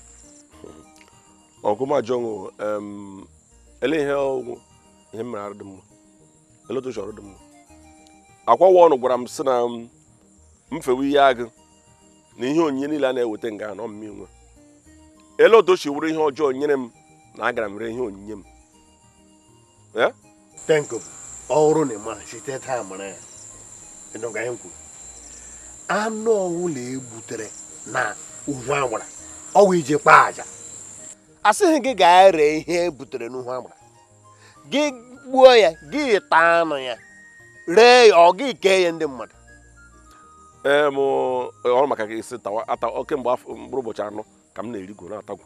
ka m jụọnụ ele ihe ọ wụ ihe mere arụ dị mma ele otu o siri dị mma akwawa ọnụ gwara m sị na m fewe ya agụ na ihe onyinye niile a na-eweta nga a ọ m nwe ele otu o si wụrụ ihe ọjọọ nyere m na agara m ree ihe onyinye m Ten Kobo ọ wụrụ na ị maghị site taa mara ya ị nụga ihe m kwuru anụ ọwụla ebutere na uhu agbara ọ wụ iji kpaa aja asịghị gị gaa ree ihe ebutere n'uhu agbara gị gbuo ya gị taa anụ ya ree ya ọ gị kee ya ndị mmadụ ee m ọrụ maka gị si tawa ata kemgbe mkpụrụ ụbọchị anọ ka m na-erigwo na-atagwu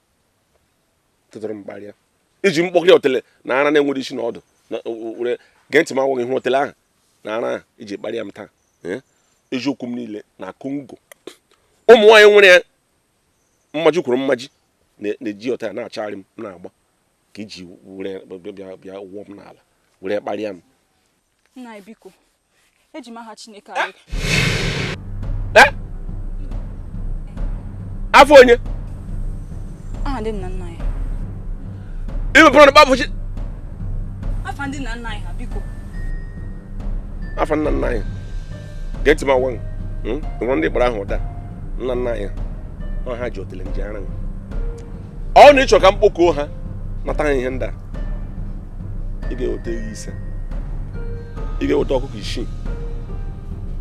tụtụrụ m kparịa i ji mkpọkịrị otele na ara na-enweghị isi na ọdụ were gee ntị m agwa gị ihe otele ahụ na ara ahụ i ji kparịa m taa eziokwu m niile na kongo ụmụ nwaanyị nwere ya mmaji kwuru mmaji na-eji ọta ya na-achagharị m na-agba ka i ji were bịa wụọ m n'ala were kparịa m eji m aha Chineke eh? anyị eh? afa onye aha ndị nna nna anyị imepụrụ na kpafụ chi afa ndị nna nna anyị ha biko afa nna nna anyị gee ntị m agwa hmm? nwere ndị kpọrọ aha ndị nna nna anyị ha ji otele nji ara ọ na ị chọ ka m kpọkuo ha nata ha ihe ndị a ị ga-eweta ewu ise ị ga-eweta ọkụkọ isii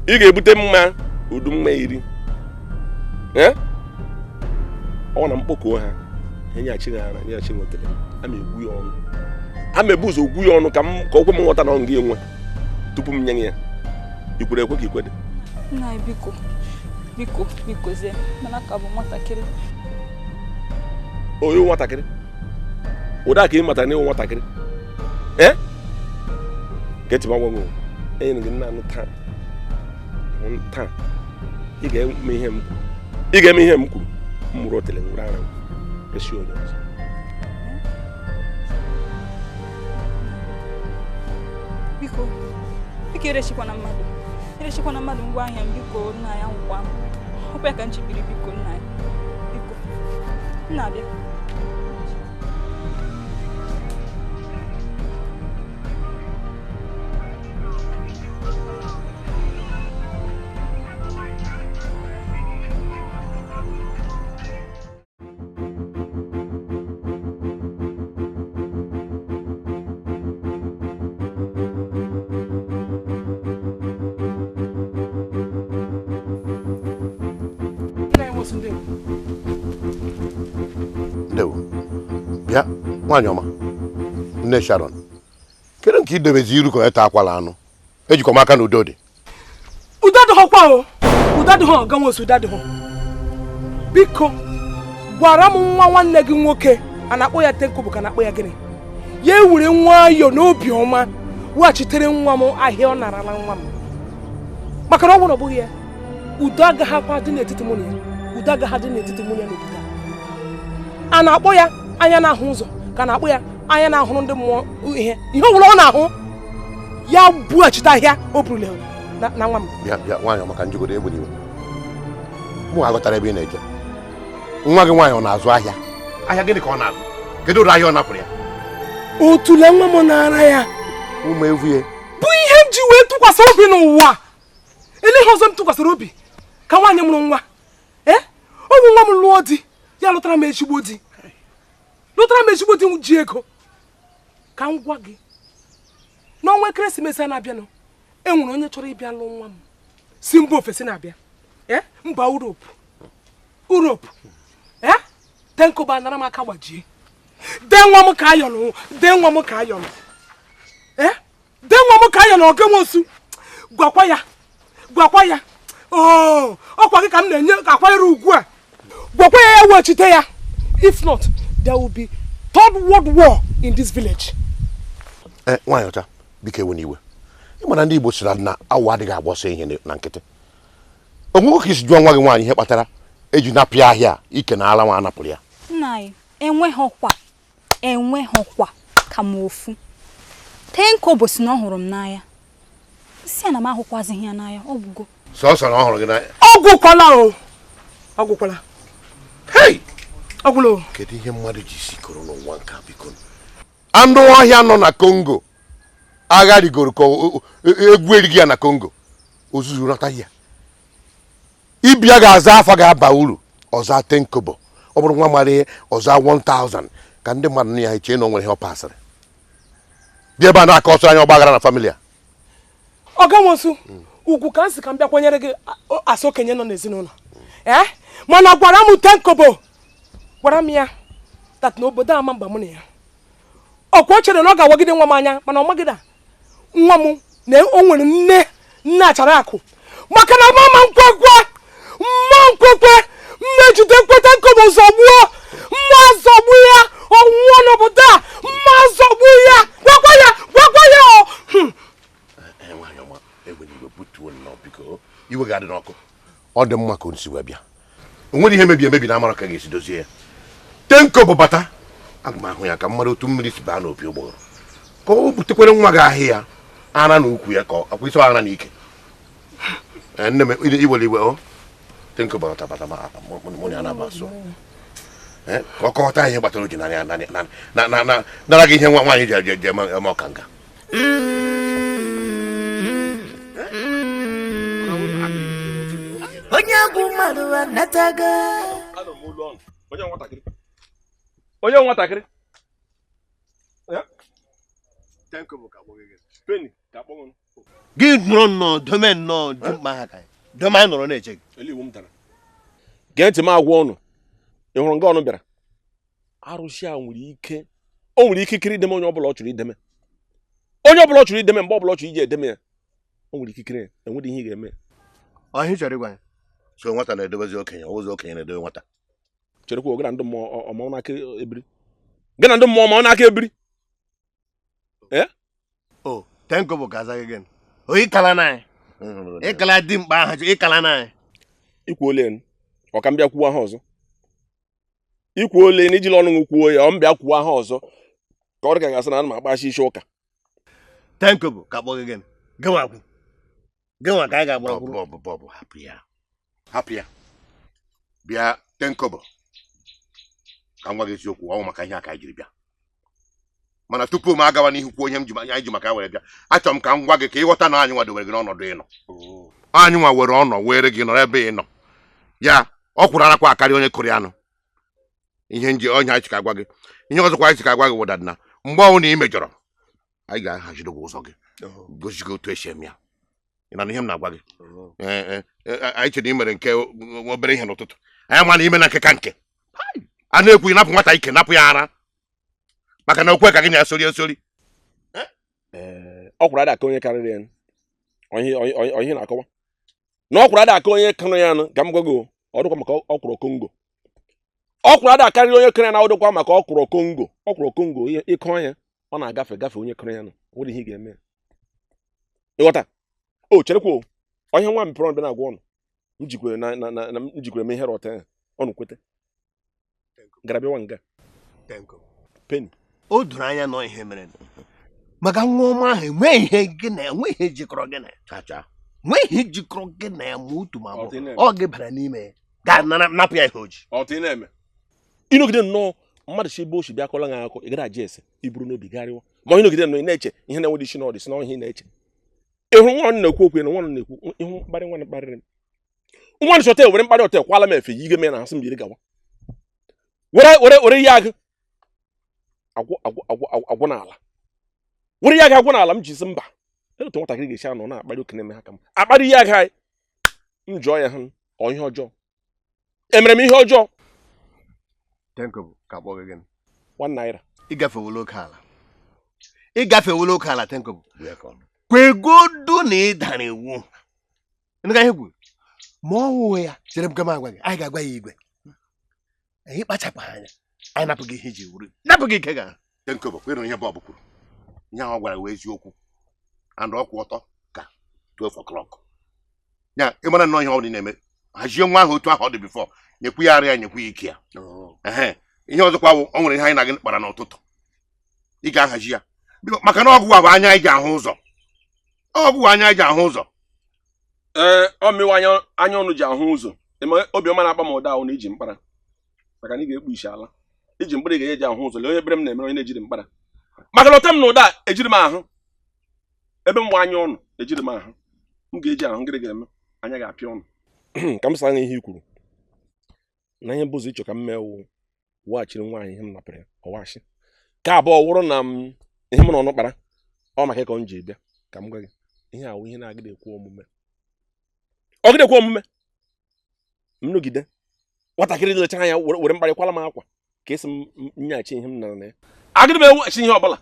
ị ga-ebute mmanya udu mmanya iri ọ na m kpọkuo ha enyeachi ha ara enyeachi otele ama egwu ya ọnụ ama ebu ụzọ ogwu ya ọnụ ka o kwe m nghọta na ọ ga enwe tupu m nye ya i kwere ekwe ka i kwedị nna biko biko biko zie mana ka bụ nwatakịrị onye nwatakịrị ụda ka ị matara na ị wụ nwatakịrị ee gee ntị m agwa nwe enyere gị nna anụ taa taa ị ga-eme ihe m kwuru ị ga-eme ihe m kwuru m buru otele were ara resi onye ọzọ biko biko erechikwana mmadụ erechikwana mmadụ ngwa ahịa m biko nna anyị anwụkwa m ọ kwa ya ka m ji biri biko nna anyị biko nna abịa ndewo bịa nwaanyị ọma nne sharon kedu nke i debezi iru ka ọta akwala anụ ejikwa m aka na udo dị udo adịghọkwa o udo adịghọ ọga nwosu udo adịghọ biko gwara m nwa nwanne gị nwoke a na-akpọ ya ten kobo ka na-akpọ ya gịnị ya ewere nwayọ n'obi ọma weghachitere nwa m ahịa ọ narala nwa m maka na ọ bụrụ ọ bụghị ya udo agaghịkwa adị n'etiti mụ na ya udo agaghị adị n'etiti mụ na ya n'obodo a na-akpọ ya anya na-ahụ ụzọ ka na-akpọ ya anya na-ahụrụ ndị mmụọ ihe ihe ọ bụla ọ na-ahụ ya bughachite ahịa o burule na na nwa m bịa bịa nwaanyị ọma ka njigodo egburu iwe mụ aghọtarọ ebe ị na-eje nwa gị nwaanyị ọ na-azụ ahịa ahịa gịnị ka ọ na-azụ kedu ụdị ahịa ọ napụrụ ya otule nwa m na ara ya ụmụ evue bụ ihe m ji wee tụkwasị obi n'ụwa elee ihe ọzọ m tụkwasịrị obi ka nwaanyị mụrụ nwa ee ọ bụ nwa m lụọ di ya lụtara m ezigbo di lụtara m ezigbo di ji ego ka m gwa gị n'ọnwa ekeresimesi a na-abịanụ e nwere onye chọrọ ịbịa lụọ nwa m si mba ofesi na-abịa eh, mba Europe Europe eh, ten kobo anara m aka gbajie dee nwa m ka ayọnụ dee nwa m ka ayọnụ dee nwa m ka ayọnụ ọga nwosu gwakwa ya gwakwa ya oo ọkwa gị ka m na-enye ka akwanyere ugwu a gwakwa ya ya wechite ya if not there will be third world war in this village eh, nwaanyị ọcha biko ewena iwe ị ma na ndị Igbo sịrị na awọ adịghị agba ọsọ ehihie na nkịtị o nwego ka i si jụọ nwa gị nwaanyị ihe kpatara e ji napụ ya ahịa ike na ala nwa a napụrụ ya nna anyị enweghịkwa enweghịkwa ka m ofu ten kobo sị na ọ hụrụ m n'anya m sị ya na m ahụkwazighị ya n'anya ọ gwụgo sọsọ na ọ hụrụ gị n'anya ọ gwụkwala o ọ gwụkwala hei ọ gwụla o kedu ihe mmadụ ji isi koro n'ụwa nke a biko anụ ọhịa nọ na kongo agha rigoro ka o- o- egwu erighị ya na kongo ozuzu nata ya ibe ya ga-aza afa ga-aba uru ọ zaa ten kobo ọ bụrụ nwa mara ihe ọ zaa 1000 ka ndị mmadụ nụ ya chee na o nwere ihe ọ pasịrị bịa ebe a na-akọsịrị anyị ọgbaghara na family a ọga nwosu ugwu ka m si ka m bịa kwanyere gị a- o- as okenye nọ n'ezinụlọ ee mana gwara m ten kobo gwara m ya that na obodo ama aba mụ na ya ọkwa o chere na ọ ga-awagide nwa m anya mana ọ magide a nwa m na o nwere nne nne achara akụ maka na mama nkwekwe mma nkwekwe mmejidekwe Ten Kobo zọgbuo mma zọgbu ya ọ nwụọ n'obodo a mma zọgbu ya gwakwa ya gwakwa ya o hmm. eh, eh, iwe ga-adị n'ọkụ ọ dị mma ka o si wee bịa o nwere ihe mebiri emebi na amara ka ga-esi dozie ya Ten Kobo bata aga m ahụ ya ka m mara otu mmiri si baa n'opi ụgbọghọrọ ka o butekwere nwa gị ahịa ara na ukwu ya ka akwa isi ara na ike Eh, nne m i- iwere iwe o Ten Kobo bata ma mụ na ya na-agba asụ Eh, ka ọ kọwata ihe kpatara o ji na ya na- na- na- na- na- nara gị ihe nwa nwaanyị ji eje- eje eme eme ọkanga onye bụ mmadụ anatago onye nwatakịrị onye nwatakịrị gị nọrọ nnọọ dome nnọọ dimkpa ha ka dome anyị nọrọ na-eche gị gee ntị m agwa unu ị hụrụ nga unu bịara arụsị a nwere ike o nwere ikikere ideme onye ọbụla ọ chọrọ ideme onye ọbụla ọ chọrọ ideme mgbe ọbụla ọ chọrọ iji edeme ya o nwere ikikere enwere ihe ị ga-eme ọ ihe a chọrọ ịgwa ya so nwata na-edebezi okenye ụzọ okenye na-edebe nwata cherekwa gị na ndị mmụọ ọma n'aka ebiri gị na ndị mmụọ ọma n'aka ebiri eh? o oh, Ten Kobo ga-aza gị gịnị ọ ịkala na anyị ịkala dimkpa ahụ ịkala na anyị ikwu ole ọ ka m bịa kwuo aha ọzọ ikwu ole na ijila ọnụ kwuo ya ọ m bịa kwuo aha ọzọ ka ọ dị ka a ga-asị na ana m agbachi isi ụka Ten Kobo ka a kpọ gị gịnị gịnwa kwụ gịnwa ka anyị ga-agba kwuru bọbụ bọbụ hapụ ya hapụ ya bịa Ten Kobo ka m gwa gị eziokwu ọ wụ maka ihe a ka anyị jiri bịa mana tupu m agawa n'ihu kwuo ihe m ji anyị ji maka ya were bịa achọrọ m ka m gwa gị ka ịghọta na anyị nwa dowere gị n'ọnọdụ ịnọ anyị nwa were ọnọ were gị nọrọ ebe ị nọ ya ọkwụrụ arakwa akarị onye kọrọ ya nụ ihe nji ihe anyị chọ ka a gwa gị ihe ọzọkwa anyị chọ ka a gwa gị wụdadị na mgbe ọ wụ na ị mejọrọ anyị ga-ahaziri gị ụzọ gị gosi gị otu esi eme ya ị na ihe m na-agwa gị anyị chere i mere nke obere ihe n'ụtụtụ anyị ma na ime na nke ka nke a na-ekwu napụ nwata ike napụ ya ara maka na okwu ka gị na-asori asori ọkwụrụ ada aka onye kọrọ ya onye na-akọwa na ọkwụrụ ada aka onye kọrọ ya nụ ka m gwa gị ọ dịkwa maka ọkwụrụ Congo ọkwụrụ ada akarịrị onye kọrọ ya na ọ dịkwa maka ọkwụrụ Congo ọkwụrụ Congo ịkọ ya ọ na-agafe agafe onye karịrị ya o nwere ihe ị ga-eme ya ịghọta o cherekwa onye nwa mepere ọnụ bịa na-agwa unu m jikwere na na na m jikwere m ihe rọta ya unu kwete gara bịawa nga Penny o doro anya na ihe mere maka nwa ọma ahụ enweghị ihe gị na enweghị ihe jikọrọ gị na ya nwee ihe jikọrọ gị na ya ma otu ma ọ gị bara n'ime ya gaa napụ ya ihe o ji ịnọgide nnọọ mmadụ si ebe o si bịa kọla gị akụkọ ị gara aja ese iburu n'obi garịwa ma onye nọgide nnọọ na-eche ihe na-enwedị isi n'ọdị si na ihe ị na-eche ịhụ nwa ọnụ na-ekwu okwu na nwa ọnụ na-ekwu ịhụ mkparị nwa mkparịrị m nwa nchọta were mkparị ọta kwala m efe yi ige me na asị m yiri gawa were were were ihe agụ agwụ agwụ agwụ agwụ- agwụ n'ala were ihe agụ agwụ n'ala m ji sị mba olee otu nwatakịrị ga-esi anọ na-akparị okenye eme ha ka m akparị ihe agụ anyị m jụọ ya hụ ọ ihe ọjọọ emere m ihe ọjọọ One Naira ịgafewula oke ala ịgafewula oke ala Ten Kobo kwegodu na ị dara iwu dị ka ihe i kwuru ma ọ wụghị ya chere m ka m gwa gị anyị ga-agwa ya igwe anyị kpachapụ anya anyị napụ gị ihe i ji wụrụ napụ gị ike gị Ten Kobo kwere ihe Bob kwuru ihe ahụ gwara wụ eziokwu and ọ kwụ ọtọ ka 12 o'clock ya ịmara nnọọ ihe ọ bụla na-eme hazie nwa ahụ otu ahụ ọ dị before nyekwu ya arịa nyekwu ya ike ya oh. ihe ọzọkwa wụ o nwere ihe anyị na gị kpara n'ụtụtụ ị ga-ahazi ya maka na ọ gị wụ anya anyị ji ahụ ụzọ ọ gị wụ anya anyị ji ahụ ụzọ ee ọ mụ wụ anya unu ji ahụ ụzọ eme obiọma na-akpa m ụda wụ na i ji mkpara maka na ị ga-ekpu isi ala i ji mkpara ị ga-enye ji ahụ ụzọ lee onye ebere m na-emere onye na-ejighị mkpara maka na ọta m na ụda ejiri m ahụ ebe m wụ anya unu ejiri m ahụ m ga-eji ahụ ngịrị ga-eme anya ga-apịa unu ka m saa ihe i kwuru na ihe bụzi ị chọ ka m mee wụ weghachiri nwaanyị ihe m napụrụ ya ọwachi nke abụọ wụrụ na ihe m na unu kpara ọ maka ya ka m ji bịa ka m gwa gị ihe a wụ ihe na-agịda ekwe omume ọ gịda ekwe omume m nọgide nwatakịrị lechara anya were mkparị kwala m akwa ka a sị m nyeghachi ihe m nara nne ya agịdị m eweghachi ihe ọbụla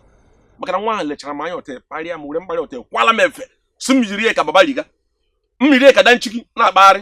maka na nwa ahụ lechara m anya ọtọ kparịa m were mkparị ọtọ kwala m efe sị m yiri ya ka babariga m yiri ya ka danshiki na-akpagharị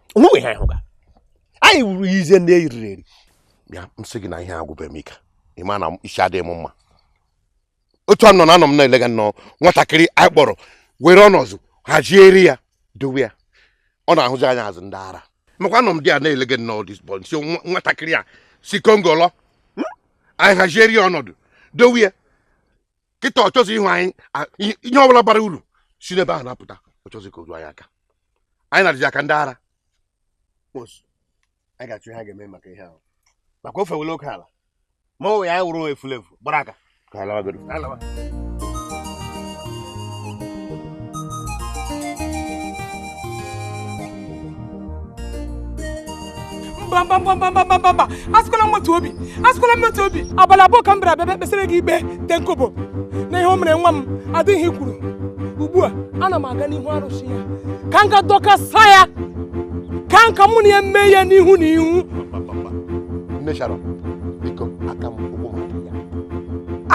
o nwe ihe anyị hụga anyị wụrụ ya eze ndị eriri eri bịa m sị gị na ihe agwụbeghị m ike ị ma na isi adịghị m mma otu a nọ na anọ m na-elega nnọọ nwatakịrị anyị kpọrọ were ọnọzụ hazieri ya dowe ya ọ na-ahụzi anya azụ ndị ara makwa anọ m dị a na-elega nnọọ this boy m sị nwatakịrị a si Congo lọ hmm? anyị hazieri ya ọnọdụ dowe ya kịta ọ chọzi ịhụ anyị a- ihe ihe ọbụla bara uru si n'ebe ahụ na-apụta ọ chọzi ka o ruo anyị aka anyị na-adịzi ya ka ndị ara Nwosu, anyị ga-achọ ihe a ga-eme maka ihe ahụ maka o fewela oke ala ma ọ wụ ya anyị wụrụ efulefu gbara aka ka anyị lawagodo Anyị lawa. mbambambambambambamba asịkwala m otu obi asịkwala m otu obi abalị abụọ ka m bịara bịa kpesịrị gị ikpe te nkobo na ihe o mere nwa m adịghị ihe kwuru ugbu a ana m aga n'ihu arụsị ya ka m ga dọkasa ya ka nka mụ na ya mee ya n'ihu na ihu nne sharon biko aka m ụkwụ m adịghị ya.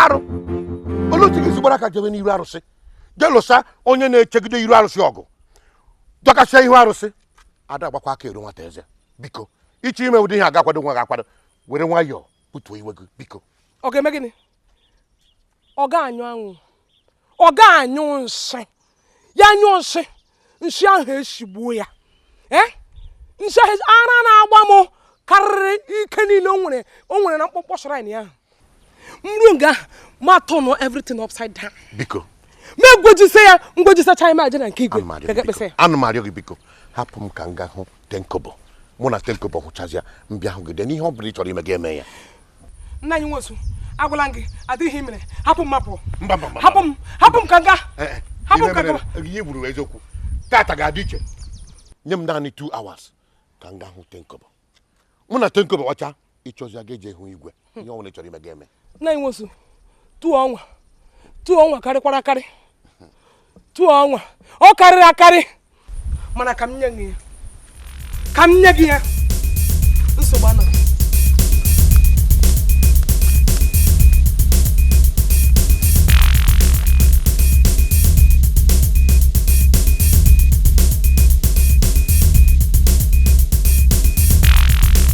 arụ olee otu ị ga-esi gbara aka jebe n'iru arụsị je lụsa onye na-echegide iru arụsị ọgụ dọkasịa ihu arụsị a da agbakwa aka eru nwata eze biko ị chọ ime ụdị ihe a ị ga-akwado onwe gị akwado were nwayọọ butuo iwe gị biko ọ ga-eme gịnị ọ ga-anyụ anwụ ọ ga-anyụ nsị ya nyụọ nsị nshi ahụ eshigbuo ya eh? nshi ahụ ara na-agba m karịrị ike niile o nwere o nwere na mkpọmkpọ shrine ahụ m ruo nga m a-turn everything upside down biko m egwejise ya m gwejisacha ime aja na nke igwe ana m arịọ gị biko hapụ m ka m gaa hụ tenkobo mụ na tenkobo hụchazịa m bịa hụ gị then ihe ọ bụla ị chọrọ ime gị eme ya nna anyị nwosu agwala m gị adịghị ihe i mere hapụ m m apụ mba mba mba hapụ m hapụ m ka m gaa Eh, eh, hapụ m ihe ka m mere- gaba ihe gburu eziokwu tata ga-adị iche nye m naanị 2 hours ka m gaa hụ tenkobo mụ na tenkobo hụcha ị chọzịa gị eje hụ igwe ihe ọ wụna ị chọrọ ime gị eme nna anyị nwosu 2 hours 2 hours karịkwara akarị 2 hours ọ karịrị akarị mana ka m nye gị ya ka m nye gị ya nsogbu anọ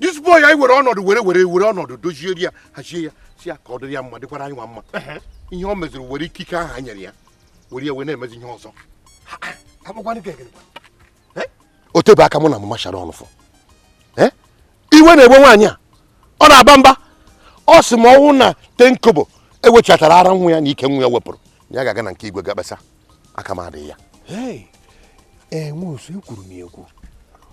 this boy anyị were ọnọdụ were were were ọnọdụ dozie ya hazie ya sị ya ka ọ dịrị ya mma dịkwara anyịnwa mma ihe o meziri were ikike ahụ anyị nyere ya were ya wee na-emezi ihe ọzọ o tebe aka mụ na mama sharon fụ iwe na-ewe nwaanyị a ọ na-aba mba ọ sị m ọ wụ na tenkobo ewechatara ara nwa ya na ike nwa ya wepụrụ ya ga-aga na nke igwe gaa kpesa aka m adịghị ya nwosu ekwuru m ekwu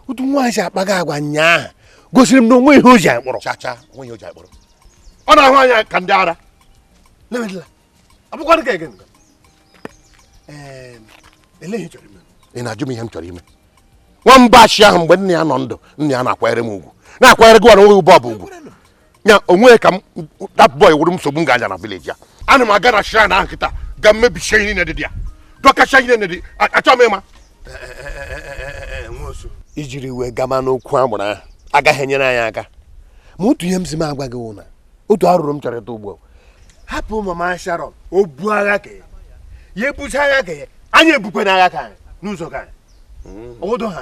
otu nwaanyị si akpaga agwa nyaa gosiri m na o nwe ihe o ji akpọrọ chacha o nwe ihe o ji akpọrọ ọ na-ahụ anyị ka ndị ara abụkwadị ka ege ị na-ajụ m ihe m chọrọ ime nwamba achị ahụ mgbe nna ya nọ ndụ nna ya na-akwanyere m ugwu na-akwanyere gị ọrụ nweghị bọọbụ ugwu ya onwe ka m that boy wụrụ m nsogbu m ga-aga na vileji ya ana m aga na shrine ahụ kịta gaa mebisie ihe niile dị ya dọkachaa ihe niile dị achọ m ịma ijiri wee gama n'okwu agbụrụ ahụ agaghị enyere anyị aka ma otu ihe m si m agwa gị wụ na otu arụrụ m chọrọ ịta ugbu a hapụ mama sharon o bu agha ka ya ebuzi agha ka ya anyị ebukwe na agha ka anyị n'ụzọ ka anyị hmm. obodo ha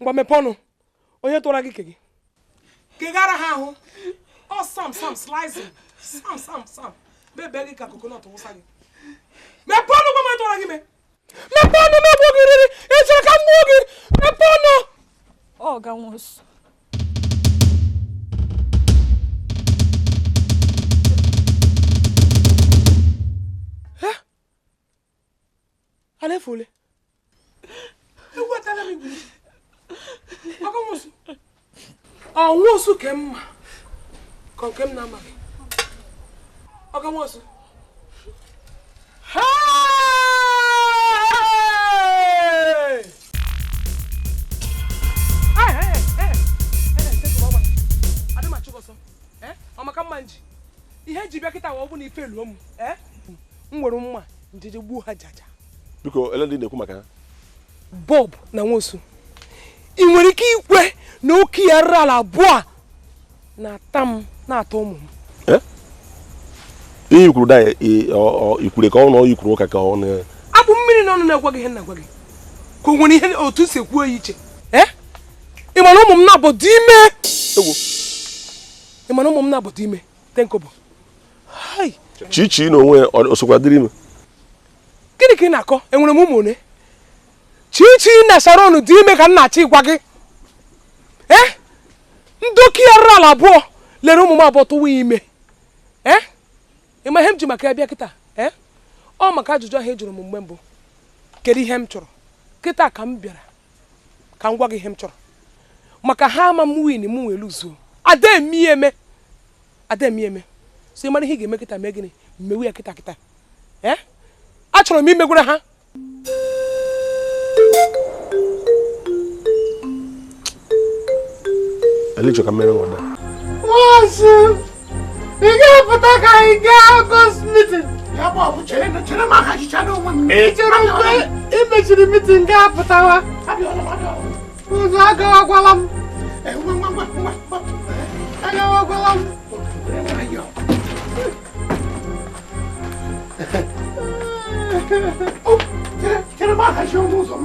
ngwa mepe ọnụ onye tụwara gị ke gị kegara ha ahụ ọ sam sam slice sam sam sam bebe gị ka kokonọt wụsa gị mepe ọnụ gwa m tụwara gị ime mepe ọnụ m egbuo gị riri ị chọrọ ka m gbuo gị mepe ọnụ ọga nwosu alefule ewetara m igwe ọga nwosu ọ nwosu ke m ma ka ọ nke m na-amaghị ọga nwosu ọ maka mma m ji ihe m ji bịa kịta wa ọ bụ na ife luo m m were mma m jeje gbuo ha jaja biko ele ndị ị na-ekwu maka ha bob na nwosu ị nwere ike ikwe na okii arụrụala abụọ a na-ata m na-ata ụmụ m Eh? ihe i kwuru da ikwure ka ọ na ọyị kwuru ụka ka ọ na a kpụ mmiri n'ọnụ na-agwa gị ihe m na-agwa gị ka o nwere ihe otu esi kwuo ya iche ee ị ma na ụmụ m naabọ dụ ime egwu ị ma na ụmụ m naabọ dụ ime tenkobo chichi na onwe osokwa dịrị ime gịnị ka ị na-akọ enwere m ụmụ one chichi na sharon dị ime ka m na-achọ ịgwa gị ee eh? ndị okii arụrụala abụọ lere ụmụ m abụọ tụwa ime ee eh? ị ma ihe m ji maka ya bịa kịta ee eh? ọ maka ajụjụ ahụ ị jụrụ m mgbe mbụ kedu ihe m chọrọ kịta ka m bịara ka m gwa gị ihe m chọrọ maka ha ama m win m wee luzuo ademieme ademieme so ị mara ihe ị ga-eme kịta mee gịnị mewe ya kịta kịta ee eh? achọrọ m imegwara ha ele ị chọ ka m mere nwosu ị ga-apụta ka anyị gaa ọgọst mitin i chere mgbe ị mechiri mitin ga-apụtawa ụzọ agawakwala m agawakwala m Oh, chere m aha chi ọnụ ụzọ m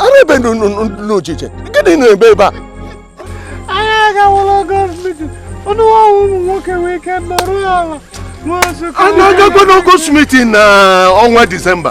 ara ebe n'ochiche gịnị na-ebe ebe a anyị agawala gọọmenti ọnụ ọnwụ ụmụ nwoke wee ike nọrọ ala a na-agakwa n'August meeting na ọnwa disemba